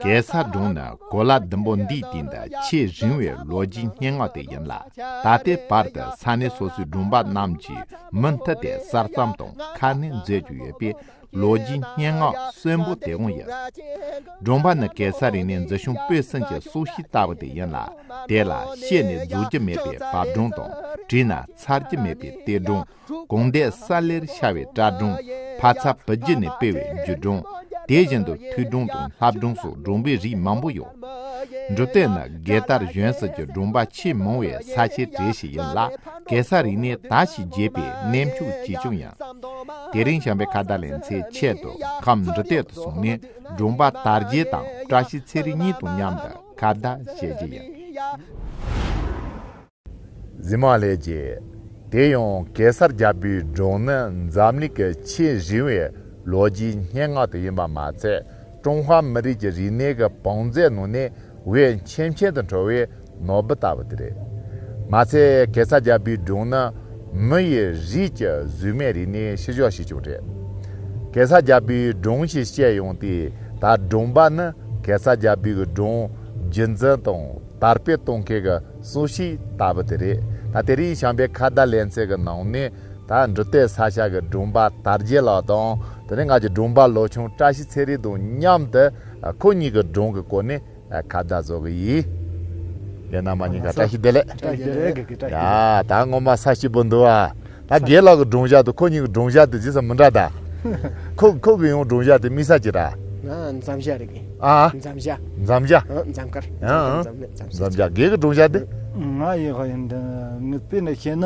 གེ་སར་སྒྲུང་ནི་གོ་ལ་ཟླུམ་པོ་འདིའི་སྟེང་དུ་ཆེས་རིང་བའི་ལོ་རྒྱུས་སྙན་ངག་དེ་ཡིན་ལ། ད་ལྟའི་བར་དུ་ས་གནས་སོ་སོའི་སྒྲུང་པ་རྣམས་ཀྱིས་མུ་མཐུད་དེ་གསར་བརྩམས་དང་ཁ་སྣོན་མཛད་བཞིན་ཡོད་པས་ལོ་རྒྱུས་སྙན་ངག་གསོན་པོ་དེ་གང་ཡིན། སྒྲོམ་པ་ནི་གེ་སར་རིང་ནས་འཛི་ཤོང་སྤོས་སེམས་ཀྱི་སྲོག་ཤིང་ལྟ་བུ་དེ་ཡིན་ལ་དེ་ལ་ཤེས་ནས་རྫོགས་ཀྱི་མེད་པའི་བབ་སྒྲོམ་དང་བྲིས་ན་ཚར་གྱི་མེད་པའི་གཏེར་སྒྲོམ་གང་འདས་ས་ལེར་ཤར་བའི་བཀྲ་སྒྲོམ་ཕ་ཚ་བུ་རྒྱུད་ནས་སྤེལ་བའི་འཇུ་སྒྲོམ་དེ་བཞིན་དུ་ཐུལ་སྒྲོམ་དང་ལྷབ་སྒྲོམ་སོགས་སྒྲོམ་པའི་རིགས་མང་པོ་ཡོད། འབྲུ་གཏེར་ནི་རྒྱལ་དར་གཞོན་སྲིད་ཀྱི་སྒྲོམ་པ་ཆེས་མང་བའི་ས་ཆའི་གྲས་ཤིག་ཡིན་ལ་གེ་སར་རིང་ནས་ད་ཞིག་རྒྱས་པའི་གནས་མཆོག་ཅིག་ཀྱང་ཡིན། དེ་རིང་བྱམས་པའི་ཁ་བརྡ་ལེན་ཚེ་ཆེད་དུ་ཁམས་འབྲི་སྟེགས་དུ་སོང་ནས་སྦྲུམ་པ་དར་རྒྱས་དང་བཀྲ་ཤིས་ཚེ་རིང་གཉིས་དང་མཉམ་དུ་ཁ་བརྡ་བྱེད་ཀྱི་ཡོད། རྫི་མ་ལྷས་རྒྱལ། དེ་ཡང་གེ་སར་རྒྱལ་པོའི་སྒྲུང་ནི་འཛམ་གླིང་གི་ཆེས་རིང་བའི་ལོ་རྒྱུས་སྙན་ངག་དེ་ཡིན་པ་མ་ཚད། ཀྲུང་ཧྭ་མི་རིགས་ཀྱི་རིག་གནས་ཀྱི་བང་མཛོད་ནང་ནས་འོས་འཕེན་འཕེན་དུ་འགྲོ་བའི་ནོར་བུ་ལྟ་བུ་དེ་རེད། མ་ཚད་གེ་སར་རྒྱལ་པོའི་སྒྲུང་ནི་མི་ཡི་རིགས་ཀྱི་གཟུགས་མེད་རིག་གནས་ཕྱི་ཕྱོགས་ཤིག་ཀྱང་རེད། གེ་སར་རྒྱལ་པོའི་སྒྲུང་ཞེས་བཤད་ཡོང་དུས་ད་སྒྲུང་པ་ནི་གེ་སར་རྒྱལ་པོའི་སྒྲུང་རྒྱུད་འཛིན་དང་དར་སྤེལ་གཏོང་མཁན་གྱི་སྲོག་ཤིང་ལྟ་བུ་དེ་རེད། ད་དེ་རིང་བྱམས་པའི་ཁ་བརྡ་ལེན་ཚད་ཀྱི་ནང་ནས་ད་འབྲུ་སྟོད་ས་ཆ་གི་སྒྲུང་པ་དར་རྒྱས་ལགས་དང་དེ་ནས་ང་གི་སྒྲུང་པ་ལོ་ཆུང་བཀྲ་ཤིས་ཚེ་རིང་དང་མཉམ་དུ་ཁོ་གཉིས་ཀྱི་སྒྲུང་གི་སྐོར་ནས་ཁ་བརྡ་བཟོ་གི་ཡིན། ཡིན་ན་མ་ཉེས་ཀ་བཀྲ་ཤིས་བདེ་ལེགས། བཀྲ་ཤིས་བདེ་ལེགས་དགེ་རྒན་བཀྲ་ཤིས་བདེ་ལེགས། ད་ངོ་མ་ས་སྐྱིད་པོ་འདུག་ཨ། ད་དགེ་ལགས་ཀྱི་སྒྲུང་བཞག་དང་ཁོ་གཉིས་ཀྱི་སྒྲུང་བཞག་དེ་ཇི་སྲིད་མི་འདྲ་ད། ཁོ་ཁོ་གི་ཡང་སྒྲུང་བཞག་དེ་དམིགས་ས་ཅི་ར། འཇམ་བཞག་རེད་དགེ། ཨ། འཇམ་བཞག། འཇམ་བཞག། འཇམ་དཀར། འཇམ་དཀར་འཇམ་མེད་འཇམ་བཞག། འཇམ་བཞག་དགེ་གི་སྒྲུང་བཞག་དེ། ང་ཡི་ཧོ་ཡིན་དེ། ངས་བལྟས་ནས་བཤད་ན།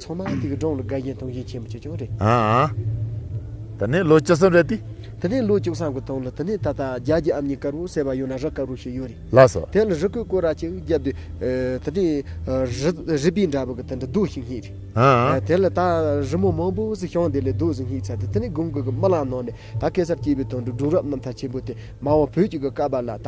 ཚང་མ་དེ་གི་སྒྲོང་ལ་དགའ་བཞིན་དུང་བཞིན་ཆེན་པོ་ཆེ་ཆུང་རེད། ད་ནས་ལོ་བཅུ་གསུམ་རེད་དེ། དེ་ནས་ལོ་བཅུ་གསུམ་གི་སྟོང་ལ་དེ་ནས་ད་ལྟ་རྒྱ་གྱི་ཨམ་ཉི་དཀར་པོ་ཟེར་བ་ཡོད་ན་རི་དཀར་པོ་ཞིག་ཡོད་རེད། ལགས་སོ། དེ་ལ་རི་སྐོས་སྐོས་ར་ཅིག་བརྒྱབ་དུས། དེ་ནས་རི་པིན་འདྲ་པོ་གི་དེ་འདྲ་རྡོ་ཞིག་སྙེགས་རེད། དེ་ལ་ད་རི་མོ་མང་པོ་ཟིག་ཤང་དེ་ལས་རྡོ་ཟིག་སྙེགས་ཚར་ཏེ་དེ་ནས་དགུན་དགུན་གྱི་རྨི་ལམ་ནང་ནས་ད་གེ་སར་སྐྱེས་པའི་དོན་དུ་སྒྲུང་རབས་རྣམ་ཐར་ཆེན་པོ་དེ་མང་བོ་བོད་ཀྱི་གི་ཀ་པར་ལ་ད་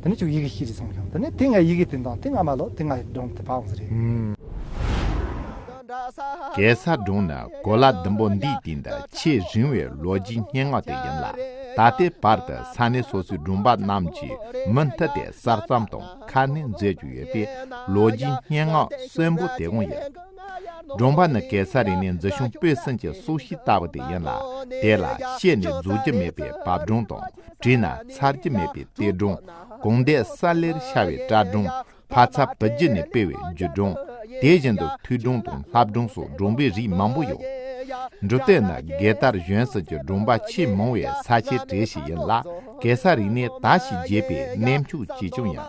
དེ་ནས་ཅུག་ཡི་གེ་བཞི་རེ་ཚང་བྱུང་དེ་ནས་དེ་སྔའི་ཡི་གེ་དེ་འདང་དེ་སྔ་མ་ལོག་དེ་སྔའི་སྒྲུང་དེ་བག་ཟེ་རེད། གེ་སར་སྒྲུང་ནི་གོ་ལ་ཟླུམ་པོ་འདིའི་སྟེང་དུ་ཆེས་རིང་བའི་ལོ་རྒྱུས་སྙན་ངག་དེ་ཡིན་ལ་ད་ལྟའི་བར་དུ་ས་གནས་སོ་སོའི་སྒྲུང་པ་རྣམས་ཀྱིས་མུ་མཐུད་དེ་གསར་བརྩམས་དང་ཁ་སྣོན་མཛད་རྒྱུ་ཡོད་པའི་ལོ་རྒྱུས་སྙན་ངག་གསོན་པོ་དེ་གང་ཡིན། སྒྲུང་པ་ནི་གེ་སར་རིག་གནས་འཛུལ་ཞུང་སྤོས་སེམས་ཀྱི་སྲོག་ཤིང་ལྟ་བུ་དེ་ཡིན་ལ་དེ་ལ་ཤེས་ནས་རྫོགས་རྒྱུ་མེད་པའི་བབ་སྒྲུང་དང། བྲིས་ན་ཚར་གྱི་མེད་པའི་གཏེར་སྒྲུང། དགོངས་བརྡའི་ས་ལེར་ཤར་བའི་བཀྲ་སྒྲུང། ཕ་ཚ་བུ་རྒྱུད་ནས་སྤེལ་བའི་རྒྱུད་སྒྲུང། དེ་བཞིན་དུ་ཐུགས་སྒྲུང་དང་ལྷ་སྒྲུང་སོགས་སྒྲུང་པའི་རིགས་མང་པོ་ཡོད། འབྲུ་སྟོད་ན་གེ་དར་གཞོན་ཟེར་གྱི་སྒྲུང་པ་ཆེས་མང་བའི་ས་ཆའི་གྲས་ཤིག་ཡིན་ལ་གེ་སར་རིག་གནས་དར་ཞིང་རྒྱས་པའི་གནས་མཆོག་ཅིག་ཀྱང་ཡིན།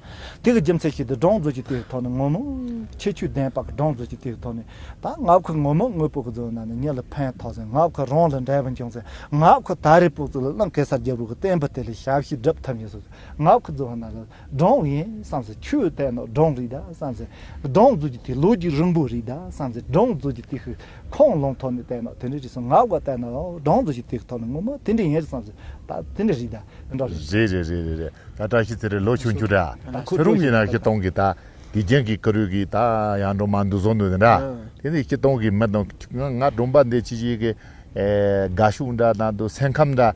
དེ་གི་རྒྱུ་མཚན་ཞིག་ཏུ་སྦྲང་རྩི་གཅིག་དེའི་ཐོག་ནས་ངོ་མ། ཁྱི་ཆུ་ལྡན་པ་གི་སྦྲང་རྩི་གཅིག་དེའི་ཐོག་ནས། ད་ང་ཁོའི་ངོ་མ་དངོས་པོ་གི་རྫུན་ནང་ནས་ཉིད་ལ་ཕན་ཐོགས་ཟིན་ང་ཁོའི་རང་ལ་འབྲས་བུ་འབྱུང་ཟིན་ང་ཁོ་ད་རེས་པུ་ཙི་ལ་ལང་གེ་སར་རྒྱབ་རོགས་ཀྱི་བསྟན་པ་དེ་ལས་ཞབས་ཕྱི་བསྒྲུབ་ཐབས་ཡིན་ཟེར་ང་ཁོའི་རྫུན་ནང་ལ་སྦྲང་ཡིན་བསམ་ཟིན་ཆུ་ལྡན་ནོ་སྦྲང་རིགས་ད་བསམ་ཟིན་སྦྲང་རྩི་གཅིག་དེ་ལོ་རྒྱུས་རིང་པོ་རིགས་ད་བསམ་ཟིན་སྦྲང་རྩི་གཅིག་དེ་ཤི། ཁོང་རླུང་ཐོག་ནས་བལྟས་ན་དེ་འདྲའི་རིགས་སམ་ངག་དབུགས་བལྟས་ན་སྦྲང་རྩི་ཞིག་དེའི་ཐོག་ནས་ངུ་མོ་དེ་འདྲའི་ཡིན་རེད་བསམ་ཟེར་ད་དེ་འདྲའི་རིགས་ད་དེ་འདྲ་རེད། རེད་རེད་རེད་རེད་རེད་ད་བཀྲ་ཤིས་ཚེ་རིང་ལོ་བཅུ་བཅུ་རེད་ཚེ་རུང་གིས་ན་སྐྱིད་སྟོང་གིས་ད་དུས་རྒྱན་གྱི་ཀུ་རུས་ཀྱིས་ད་ཡང་སྒྲོལ་མ་འདུག་བཟོ་འདུག་དེ་འདྲ་དེ་ནི་སྐྱིད་སྟོང་གིས་མི་དང་ང་སྒྲོམ་པ་འདི་ཅི་ཞིག་གིས་དགའ་ཤུགས་འདྲ་ད་དུ་སེམས་ཁམས་འདྲ།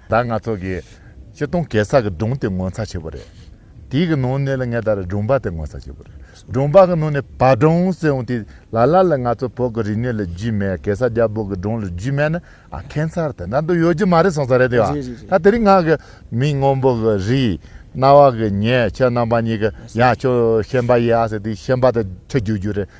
ད་ང་ཚོ་གི་སྤྱི་སྟོང་གེ་སར་གི་སྒྲུང་དེ་ངོ་མཚར་ཆེ་པོ་རེད། དེའི་གི་ནང་ནས་ལ་ངས་ད་རེ་སྒྲུང་པ་དེ་ངོ་མཚར་ཆེ་པོ་རེད། སྒྲུང་པ་གི་ནང་ནས་བ་སྒྲུང་ཟེར་འོང་དེ་ལ་ལ་ལ་ང་ཚོ་བོད་གི་རིག་གནས་ལ་རྒྱུས་མེད་གེ་སར་རྒྱལ་པོ་གི་སྒྲུང་ལ་རྒྱུས་མེད་ན་ཨ་ཁེ་མཚར་དེ་འདྲ་འདུག་ཡོད་རྒྱུ་མ་རེད་སོང་ས་རེད་དེ་བ། རེད་རེད་རེད། ད་དེ་རིང་ང་གི་མིང་སྔོན་པོ་གི་རི། རྣ་བ་གི་ཉེ་ཁྱེད་རྣམ་པ་གཉིས་གི་ཡང་ཁྱོད་ཤན་པ་ཡིན་ཨ་ཟེར་དེ་ཤན་པ་དེ་ཁྲིད་རྒྱུ་རྒྱུ་རེད།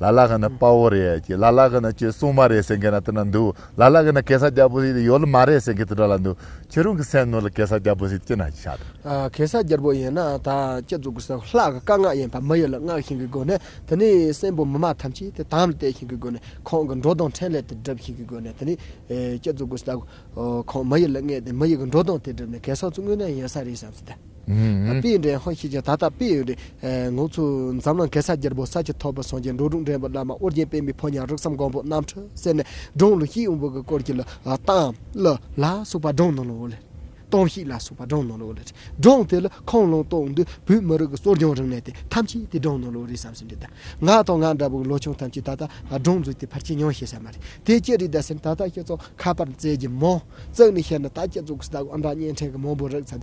ལ་ལ་ག་ན་དཔའ་བོ་རེད་ཀྱི་ལ་ལ་ག་ན་ཁྱོད་སྲུང་མ་རེད་ཟེར་མཁན་ན་དེ་འདྲ་འདུག་ལ་ལ་ག་ན་གེ་སར་རྒྱལ་པོ་ཡོད་ལ་མ་རེད་ཟེར་མཁན་དེ་འདྲ་ལ་འདུག་ཁྱོད་རང་གི་སེམས་ནང་ལ་གེ་སར་རྒྱལ་པོ་ཟེར་ཅི་ན་ཅི་ཆགས་དང། གེ་སར་རྒྱལ་པོ་ཡིན་ན་ད་སྤྱི་གཙུག་གི་སོག་ལྷག་གི་བཀའ་མངགས་ཡིན་པ་མི་ཡོད་ལ་མངགས་བཞིན་གྱི་སྒོ་ནས་དེ་ནས་སྲིན་པོ་མི་མ་ཐམས་ཅད་དེ་དམ་ལ་གཏད་བཞིན་གྱི་སྒོ་ནས་ཁོང་གི་འགྲོ་སྟངས་ཕྲིན་ལས་དེ་སྒྲུབ་བཞིན་གྱི་སྒོ་ནས་དེ་ནས་སྤྱི་གཙུག་གི་སོག་ཁོང་མི་ཡོད་ལ་མངགས་ཏེ་མི་ཡོད་ཀྱི་འགྲོ་སྟངས་དེ་སྒྲུབ་ནས་གེ་སར་ཚོ་དངོས་གནས་ཡིན་ས་རེད་བསམ་ཟིན་ཏེ། དཔེ་ཡི་འདྲེན་ཧོན་ཤེས་ཀྱང་ད་ལྟ་དཔེ་ཡི་ངང་ཚུལ་འཛམ་གླིང་གེ་སར་རྒྱལ་པོ་ས་ཆུ་ཐོག་པོ་སངས་རྒྱས་འགྲོ་དྲུག་འདྲེན་པ་བླ་མ་ཨོ་རྒྱན་པད་མའི་ཕོ་ཉའི་རིགས་སམ་གང་པོ་རྣམ་འཕྲུལ་གསེར་ནི་སྒྲོན་ལུགས་ཤིག་འོད་འབུལ་གྱི་སྐོར་གྱི་ལ་སྟང་ལ་ལ་སོགས་པ་སྒྲོན་ནང་ལོ་ལེ། སྟོང་ཤིག་ལ་སོགས་པ་སྒྲོན་ནང་ལོ་ལེ། སྒྲོན་དེ་ལ་ཁོང་ལུང་རྟོགས་འདུས་བོད་མི་རིགས་ཀྱི་གསོ་སྦྱོང་རིག་གནས་དེ་ཐམས་ཅད་དེ་སྒྲོན་ནང་ལོ་རེད་བསམ་ཟིན་འདི་ལྟ། ང་དང་ང་འདྲ་བོའི་ལོ་ཆུང་ཐམས་ཅད་ད་ལྟ་སྒྲོན་འཛུགས་དེ་ཕར་ཆད་མྱོང་ཤེས་ས་མ་རེད་དེ་ཅི་རེད་ད་ཟེར་ན་ད་ལྟ་ཁྱེད་ཚོ་ཁ་པར་བཙལ་གྱི་མོ། བཙལ་ནས་བཤད་ན་ད་ཁྱེད་ཚོ་གི་སྟག་འོ་འདྲ་བརྙན་འཕྲིན་གྱི་མང་པོ་རིག་ཚར་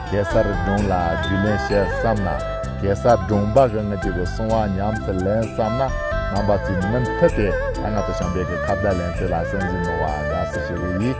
གེ་སར་སྒྲུང་ལ་རྒྱུས་ལོན་བྱེད་བསམ་ན་གེ་སར་སྒྲུང་འབའ་གི་ངུ་དུས་ཀྱི་སྲུང་བ་ཉམས་སུ་ལེན་བསམ་ན་རྣམ་པ་ཚོས་མུ་མཐུད་དེ་ད་སྔ་དུ་བྱང་བལ་གྱི་ཁ་བརྡ་ལེན་ཚུལ་ལ་གསན་གཟིགས་གནང་བ་དགའ་བསུ་ཞུ་གི་ཡིན།